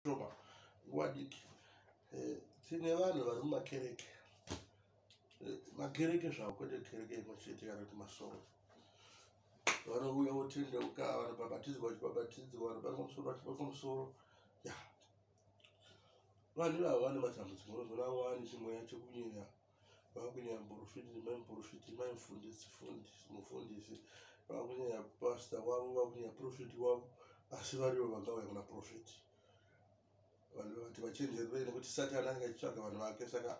toba nguva diki eh, tine vanhu vari mumakereke eh, makereke zvavo kwete kereke imwe chete kana kuti masoro vanouya votendeuka vanobhabhatidzwa vachibhabhatidzwa vanobatwa musoro vachibatwa musoro ya vanhu ivavo vane matambudziko unozona vane chimweya chekunyenya vakunyaya muporofiti nemai muporofiti mai mufundisi fundisi mufundisi vakunyaya pasta wavo vakunyaya profiti wavo asi varivo vanga vaya kuna profiti vanhu vati vachenjerei nekuti satani anenge achitsvaga vanhu vake saka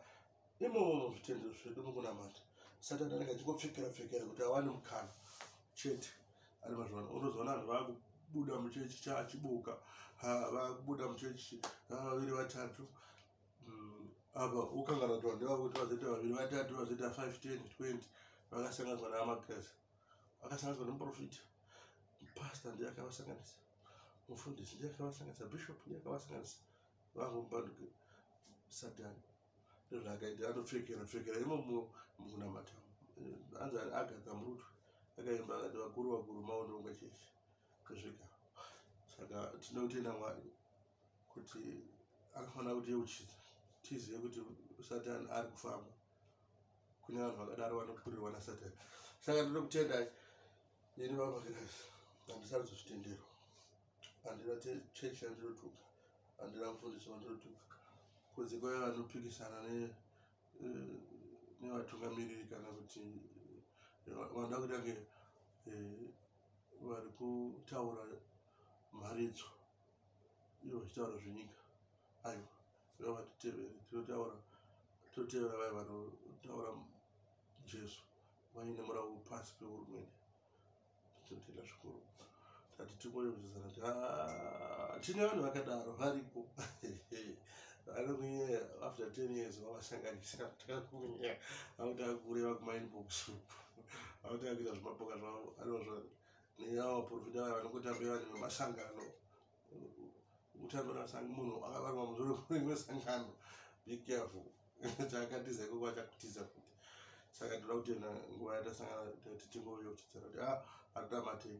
imomo muzvitendero zvedu mukunamata satani anenge achingopfekera pfekera kuti awane mukana chete ari mazvano unozoona vanhu vaku kubuda muchechi chaachibuka vakubuda muchechi vaviri vatatu apa ukangana kuti vanhu vakuti vazoita vaviri vatatu vazoita five ten twenty vakasanganiswa naamagirasi vakasanganiswa nemuprofita pasta ndiye akavasanganisa mufundisi ndiye akavasanganisa bishop ndiye akavasanganisa vangu mubanduke satani ndozvaakaita anopfekera pfekera imo mukunamata anzi agadza murutu akaimba akati vakuru vakuru maononga chechi kusvika saka tinotenda mwari kuti anofanira kutiyeuchidza tizive kuti satani ari kufamba kune vanhu vakadaro vanokurirwa nasatani saka ndiri kutendai ini vamakirasi handisati zvitenderwa handina chechi yandinotuka handina mufundisi wandinotuka kunze kwave vanopikisana eh, nevatungamiriri kana kuti eh, vanoda kutange eh, vari kutaura mharidzo ivo vachitaura zvenyika aiwa iva vatitevere tinotaura totevera vaya vanotaura jesu vaine murawo pasi pehurumende tinotenda zvikuru tati tikonyovisana ti ah, tine vanhu vakadaro varipo vanokunyaya after ten years vavasanganisa takakunyaya vanotakureva kumainbox uku vanotakuita zvimapoka zvavo anozvaa nenyaya vaprofita vaya vanongotambira vanhu vemasangano kutambira masangano munhu akavarwa muzoro rimwe sangano be careful chaakatiza ikoko achakutiza futi saka tinoda kutenda nguva yatasangana tati tingoyo kutidzira kuti a ah, hatinamatei